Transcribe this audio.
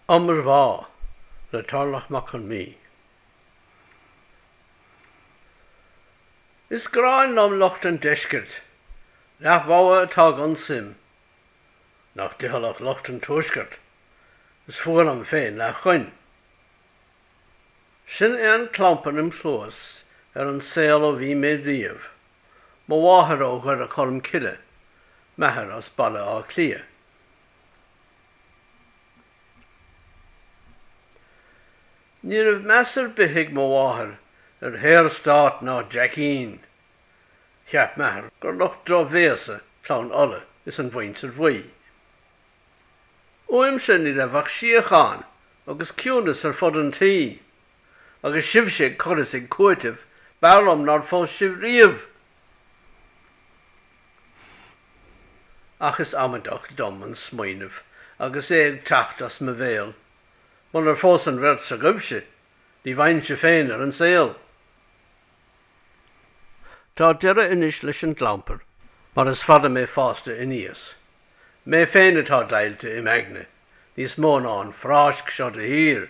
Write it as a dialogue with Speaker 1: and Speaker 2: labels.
Speaker 1: Iomarbhá le Tarlach Mac Con Midhe. Is gráin liom lucht an deiscirt, Leath Mhogha atá gan suim, nach dícheallach lucht an tuaiscirt, is fuath liom féin Leath Choinn. Sin é an clampar im chluas ar an saol ó bhí mé riamh, mo mháthair ó Dhoire Cholmcille, m'athair as Baile Átha Cliath. Ní raibh meas ar bith ag mo mháthair ar Shaorstát ná Jackeens. Cheap m'athair gur lucht drochbhéasa Clann Uladh is an Mhuintir Bhuí. Uaimse ní raibh ach síocháin agus ciúnas ar fud an tí agus sibhse ag cur is ag cúiteamh, b'fhearr liom nár phós sibh riamh! Ach is amaideach dom an smaoineamh agus é ag teacht as mo bhéal, munar phós an bheirt s'agaibhse, ní bheinnse féin ar an saol! Tá deireadh anois leis an gclampar, mar is fada mé fásta aníos. Mé féin atá deighilte im aigne, níos mó ná an phráisc seo de thír!